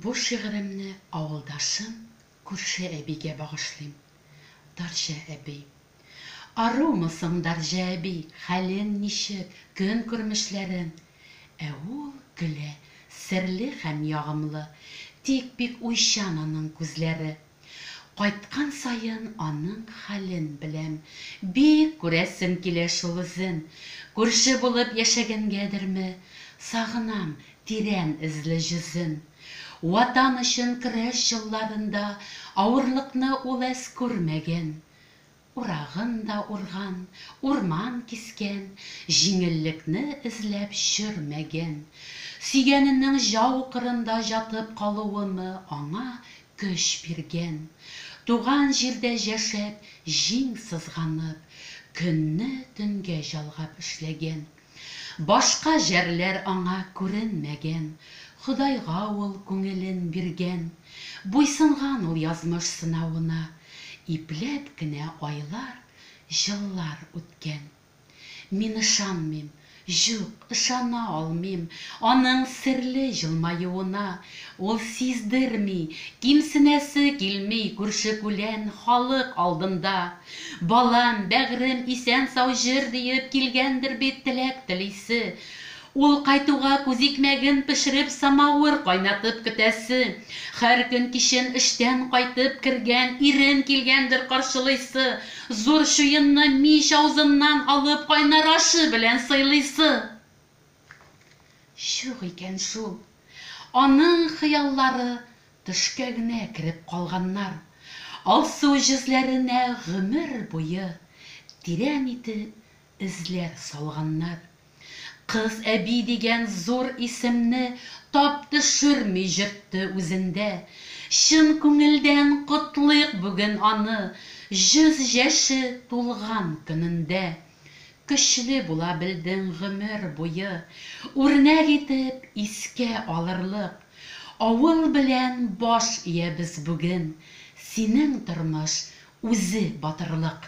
Бу шигыремне авылдашым, күрше әбигә багышлыйм. Дарҗә әби. Арумы соң Дарҗә әби, хәлең ничек, көнкүрмешләрең? Ә ул көлә, серле һәм ягымлы, тик бик уйчан аның күзләре. Кайткан саен аның хәлен беләм. Бик күрәсем килә шул үзен. Күрше булып яшәгәнгәдерме, сагынам тирән эзле җөзен. Ватан өчен көрәш елларында авырлыкны ул әз күрмәгән. Урагын да урган, урман кискән, Җиңеллекне эзләп чөрмәгән. Сөйгәненең җау кырында җатып калуымы аңа көч биргән. Туган җирдә җәшәп, җиң сызганып, Көнне төнгә җалгап эшләгән. Башка җәрләр аңа күренмәгән, Ходайга ул күңелен биргән. Буйсынган ул язмыш сынавына, Ипләп кенә айлар, еллар үткән. Мин ышанмыйм, җук, ышана алмыйм Аның серле җылмаюына. Ул сиздерми, кимсенәсе килми Күрше-күлән, халык алдында. Балам, бәгърем, исән-сау җыр диеп килгәндер бит теләк телисе. Ул кайтуга күзикмәген пешереп самавыр кайнатып көтәсе. Хәр көн кичен эштән кайтып кергән ирен килгәндер каршылыйсы. Зур чуенны мич авызыннан алып кайнар ашы белән сыйлыйсы. Чук икән шул. Аның хыяллары Төшкә генә кереп калганнар. Алсу җезләренә гомер буе тирән итеп эзләр салганнар. Кыз әби дигән зур исемне тап төшерми йөртте үзендә. Чын күңелдән котлыйк бүген аны, йөз яше тулган көнендә! Көчле була белдең гомер буе, Үрнәк итеп искә алырлык. Авыл белән баш иябез бүген, Синең тормыш, үзе батырлык.